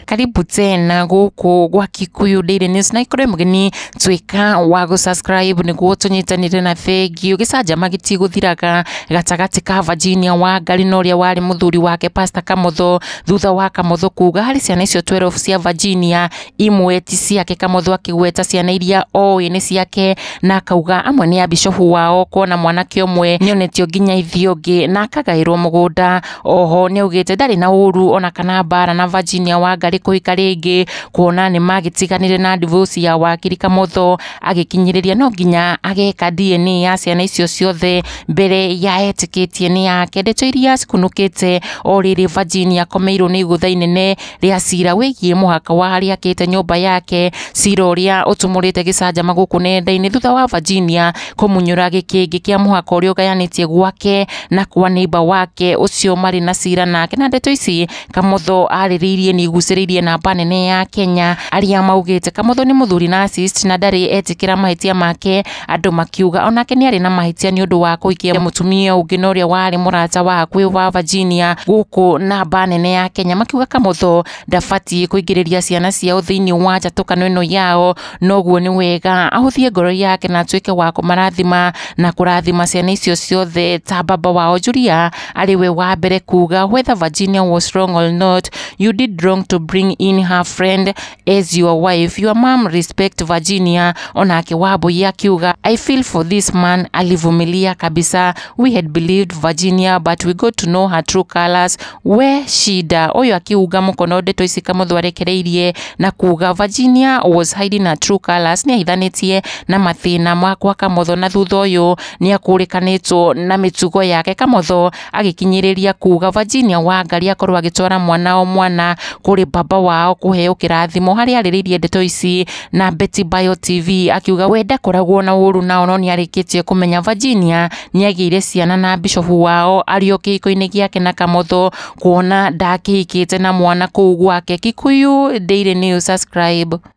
karibu tena guku gwa kikuyu daily news na ikorwe mugeni twika wa gu subscribe niguo tunyitanire na bengi ugicanjama gitiguthiraga gatagati ka Virginia wa ngari na uria wari muthuri wake pastor kamotho thutha wa kamotho kuga hari ciana icio 12 cia Virginia imwe ti ciake kamũthũ akĩgweta ciana iria oĩ nĩ ciake na akauga amwe nĩ ya bishofu wao kuona mwanake ũmwe nĩonetio nginya ithiĩ ũngĩ na akagaĩrwo mũgũnda oho nĩaugĩte ndarĩ na ũru ona kana mbara na Virginia Wangari kũhika rĩngĩ kuona nĩ magĩtiganire na divorce ya wakiri kamũthũ agĩkinyĩrĩria no nginya ageka DNA ya ciana icio ciothe mbere ya etĩkĩtie nĩ yake ndeto iria cikunũkĩte o rĩrĩ Virginia akomeirwo nĩ igũtha inene rĩa cira wĩgiĩ mũhaka wa harĩa akĩte nyũmba yake, cira ũrĩa ũtumũrĩte gĩcanjama gũkũ nenda-inĩ thutha wa Virginia kũmunyũra gĩkĩngĩ kĩa mũhaka ũrĩa ũgayanĩtie gwake na kwa neighbor wake ũcio marĩ na cira nake. Na ndeto ici Kamotho arĩrĩirie nĩ igucĩrĩirie namba nene ya Kenya arĩa maugĩte Kamotho nĩ mũthuri narcissist na ndarĩ etĩkĩra mahĩtia make Andũ makiuga onake nĩ arĩ na mahĩtia nĩ ũndũ wa kũhikia mũtumia ũngĩ na ũrĩa warĩ mũrata wa hakuhĩ wa Virginia gũkũ na mba nene ya Kenya makiuga Kamotho ndabatiĩ kũingĩrĩria ciana ciao thĩinĩ wa njatũkano ĩno yao noguo nĩ wega ahũthie ngoro yake na atuĩke wa kũmarathima na kũrathima ciana icio ciothe ta baba wao Julia arĩ we wa mbere kuga whether Virginia was wrong or not you did wrong to bring in her friend As your wife, your mom respect Virginia, onake Wambui akiuga I feel for this man, alivumilia kabisa. We had believed Virginia but we got to know her true colors. We shida uyu akiuga mukono ndeto ici kamuthwarekereirie na kuga Virginia was hiding her true colors, ni ahithanitie na mathina makwa kamotho na thutha uyu ni akurikanitwo na mitugo yake kamotho agĩkinyĩrĩria kuuga Virginia Wangari akorwo agĩtwara mwana o mwana kũrĩ baba wao kũheo kĩrathimo harĩa arĩrĩirie ndeto ici na Betty Bio TV akiuga we ndakoragwo na ũũru nao no nĩarĩkĩtie kũmenya Virginia nĩagĩire ciana na bishofu wao arĩ o kĩhiko-inĩ gĩake na Kamotho kuona ndakĩhikĩte na mwana kũu gwake. Kikuyu Daily News subscribe.